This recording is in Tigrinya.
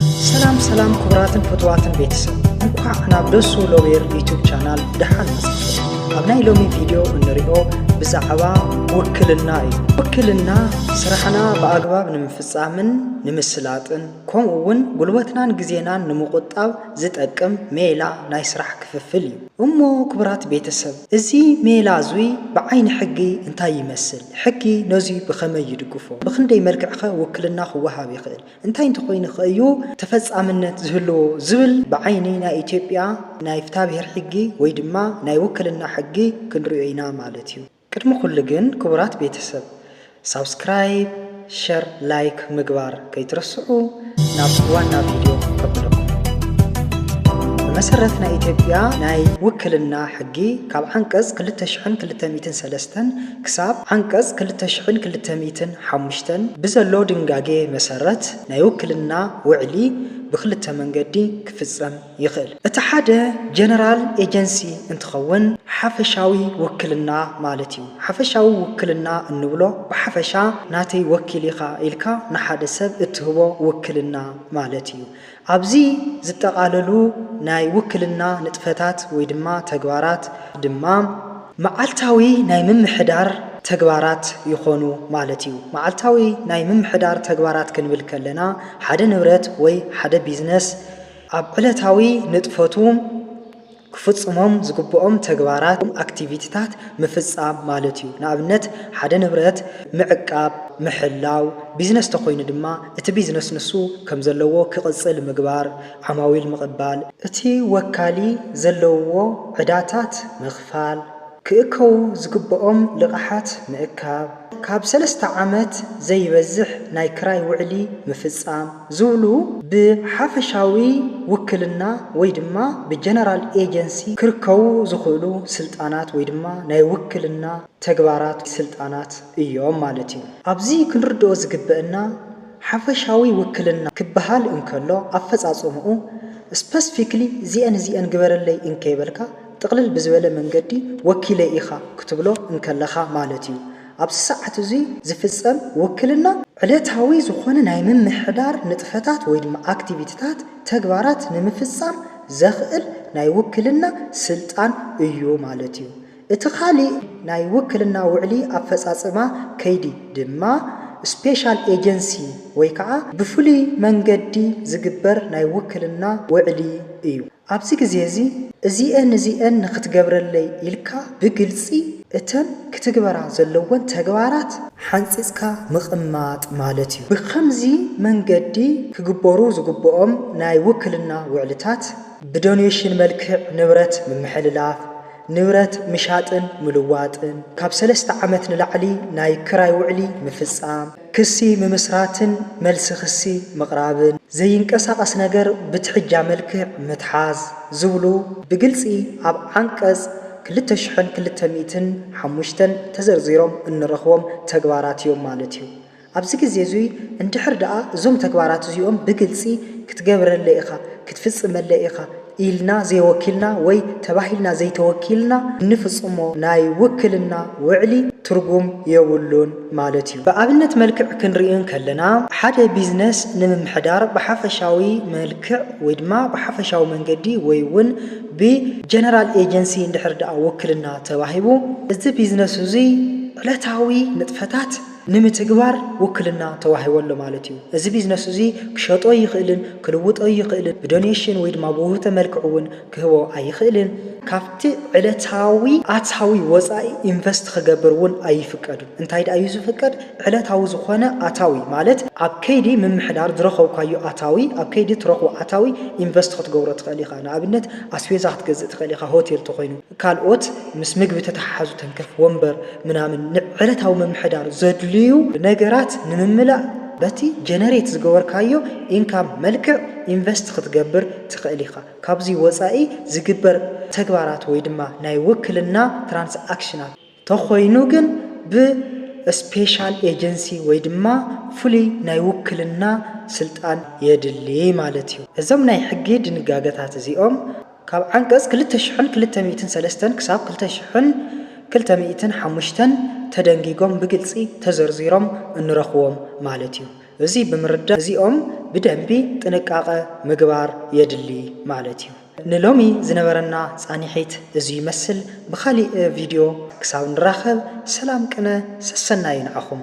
ሰላም ሰላም ክቡራትን ፍትዋትን ቤተሰብ እንኳዕ ናብ ደሱ ሎቤር ዩቱብ ቻናል ደሓን መጻእኩም። ኣብ ናይ ሎሚ ቪድዮ እንሪኦ ብዛዕባ ውክልና እዩ። ውክልና ስራሕና ብኣግባብ ንምፍጻምን ንምስላጥን ከምኡ እውን ጉልበትናን ግዜናን ንምቁጣብ ዝጠቅም ሜላ ናይ ስራሕ ክፍፍል እዩ። እሞ ክቡራት ቤተሰብ እዚ ሜላ እዙይ ብዓይኒ ሕጊ እንታይ ይመስል? ሕጊ ነዙይ ብኸመይ ይድግፎ? ብክንደይ መልክዕኸ ውክልና ክወሃብ ይኽእል? እንታይ እንተኾይኑኸ እዩ ተፈፃምነት ዝህልዎ ዝብል ብዓይኒ ናይ ኢትዮጵያ ናይ ፍትሃብሄር ሕጊ ወይ ድማ ናይ ውክልና ሕጊ ክንሪኦ ኢና ማለት እዩ። ቅድሚ ኩሉ ግን ክቡራት ቤተሰብ ሳብስክራይብ ሸር ላይክ ምግባር ከይትረስዑ ናብ ዋና ቪድዮ ከብለኩም። ብመሰረት ናይ ኢትዮጵያ ናይ ውክልና ሕጊ ካብ ዓንቀፅ ክልተ ሽሕን ክልተ ሚእትን ሰለስተን ክሳብ ዓንቀጽ ክልተ ሽሕን ክልተ ሚእትን ሓሙሽተን ብዘሎ ድንጋጌ መሰረት ናይ ውክልና ውዕሊ ብክልተ መንገዲ ክፍጸም ይኽእል። እቲ ሓደ ጀነራል ኤጀንሲ እንትኸውን ሓፈሻዊ ውክልና ማለት እዩ። ሓፈሻዊ ውክልና እንብሎ ብሓፈሻ ናተይ ወኪል ኢኻ ኢልካ ንሓደ ሰብ እትህቦ ውክልና ማለት እዩ። ኣብዚ ዝጠቓለሉ ናይ ውክልና ንጥፈታት ወይ ድማ ተግባራት ድማ መዓልታዊ ናይ ምምሕዳር ተግባራት ይኾኑ ማለት እዩ። መዓልታዊ ናይ ምምሕዳር ተግባራት ክንብል ከለና ሓደ ንብረት ወይ ሓደ ቢዝነስ ኣብ ዕለታዊ ንጥፈቱ፣ ክፍጽሞም ዝግብኦም ተግባራት ወይም ኣክቲቪቲታት ምፍጻም ማለት እዩ። ንኣብነት ሓደ ንብረት ምዕቃብ፣ ምሕላው፣ ቢዝነስ ተኾይኑ ድማ እቲ ቢዝነስ ንሱ ከምዘለዎ ክቕጽል ምግባር፣ ዓማዊል ምቕባል፣ እቲ ወካሊ ዘለውዎ ዕዳታት ምኽፋል፣ ክእከቡ ዝግብኦም ልቓሓት ምእካብ፣ ካብ ሰለስተ ዓመት ዘይበዝሕ ናይ ክራይ ውዕሊ ምፍጻም ዝብሉ ብሓፈሻዊ ውክልና ወይ ድማ ብጀነራል ኤጀንሲ ክርከቡ ዝኽእሉ ስልጣናት ወይ ድማ ናይ ውክልና ተግባራት ስልጣናት እዮም ማለት እዩ። ኣብዚ ክንርድኦ ዝግበእና ሓፈሻዊ ውክልና ክበሃል እንከሎ ኣፈጻጽምኡ፣ ስፐስፊክሊ እዚኤን እዚኤን ግበረለይ እንከይበልካ፣ ጥቕልል ብዝበለ መንገዲ ወኪለይ ኢኻ ክትብሎ እንከለኻ ማለት እዩ። ኣብዚ ሰዓት እዙይ ዝፍፀም ውክልና ዕለታዊ ዝኾነ ናይ ምምሕዳር ንጥፈታት ወይ ድማ ኣክቲቪቲታት፣ ተግባራት፣ ንምፍፃም ዘኽእል ናይ ውክልና ስልጣን እዩ ማለት እዩ። እቲ ካሊእ ናይ ውክልና ውዕሊ ኣፈፃፅማ ከይዲ ድማ ስፔሻል ኤጀንሲ ወይ ከዓ ብፍሉይ መንገዲ ዝግበር ናይ ውክልና ውዕሊ እዩ። ኣብዚ ግዜ እዚ እዚኤን እዚኤን ንኽትገብረለይ ኢልካ ብግልጺ እተን ክትግበራ ዘለወን ተግባራት ሓንጺጽካ ምቕማጥ ማለት እዩ። ብኸምዚ መንገዲ ክግበሩ ዝግብኦም ናይ ውክልና ውዕልታት፣ ብዶኔሽን መልክዕ ንብረት ምምሕልላፍ፣ ንብረት ምሻጥን ምልዋጥን፣ ካብ ሰለስተ ዓመት ንላዕሊ ናይ ክራይ ውዕሊ ምፍጻም፣ ክሲ ምምስራትን መልሲ ክሲ ምቕራብን፣ ዘይንቀሳቐስ ነገር ብትሕጃ መልክዕ ምትሓዝ ዝብሉ ብግልፂ ኣብ ዓንቀፅ ክልተ ሽሕን ክልተ ሚእትን ሓሙሽተን ተዘርዚሮም እንረኽቦም ተግባራት እዮም ማለት እዩ። ኣብዚ ግዜ እዙይ እንድሕር ደኣ እዞም ተግባራት እዚኦም ብግልፂ ክትገብረለይ ኢኻ፣ ክትፍፅመለይ ኢኻ፣ ኢልና ዘይወኪልና ወይ ተባሂልና ዘይተወኪልና እንፍጽሞ ናይ ውክልና ውዕሊ ትርጉም የብሉን ማለት እዩ። ብኣብነት መልክዕ ክንርኢ እንከለና፣ ሓደ ቢዝነስ ንምምሕዳር ብሓፈሻዊ መልክዕ ወይ ድማ ብሓፈሻዊ መንገዲ ወይ ውን ብጀነራል ኤጀንሲ እንድሕር ደኣ ውክልና ተዋሂቡ፣ እዚ ቢዝነስ እዙይ ዕለታዊ ንጥፈታት፣ ንምትግባር ውክልና ተዋሂቦ ኣሎ ማለት እዩ። እዚ ቢዝነስ እዙይ ክሸጦ ይኽእልን ክልውጦ ይኽእልን ብዶኔሽን ወይ ድማ ብውህብቶ መልክዕ እውን ክህቦ ኣይኽእልን። ካብቲ ዕለታዊ ኣታዊ ወፃኢ ኢንቨስት ክገብር እውን ኣይፍቀድን። እንታይ ድኣ እዩ ዝፍቀድ? ዕለታዊ ዝኾነ ኣታዊ ማለት ኣብ ከይዲ ምምሕዳር ዝረኸብካዮ ኣታዊ ኣብ ከይዲ እትረኽቦ ኣታዊ ኢንቨስት ክትገብሮ ትኽእል ኢኻ። ንኣብነት ኣስቤዛ ክትገዝእ ትኽእል ኢኻ ሆቴል ተኾይኑ። ካልኦት ምስ ምግቢ ተተሓሓዙ ተንከፍ ወንበር ምናምን ንዕለታዊ ምምሕዳር ዘድልዩ ነገራት ንምምላእ በቲ ጀነሬት ዝገበርካዮ ኢንካም መልክዕ ኢንቨስት ክትገብር ትኽእል ኢኻ። ካብዚ ወፃኢ ዝግበር ተግባራት ወይ ድማ ናይ ውክልና ትራንስኣክሽናት፣ ተኾይኑ ግን ብ እስፔሻል ኤጀንሲ ወይ ድማ ፍሉይ ናይ ውክልና ስልጣን የድሊ ማለት እዩ። እዞም ናይ ሕጊ ድንጋገታት እዚኦም ካብ ዓንቀፅ ክልተ ሽሕን ክልተ ሚእትን ሰለስተን ክሳብ ክልተ ሽሕን ክልተ ሚእትን ሓሙሽተን ተደንጊጎም ብግልፂ ተዘርዚሮም እንረኽዎም ማለት እዩ። እዙይ ብምርዳእ እዚኦም ብደንቢ ጥንቃቐ ምግባር የድሊ ማለት እዩ። ንሎሚ ዝነበረና ጻኒሒት እዚ ይመስል ብካሊእ ቪድዮ ክሳብ ንራከብ ሰላም ቅነ ሰሰናዩ ንዓኹም።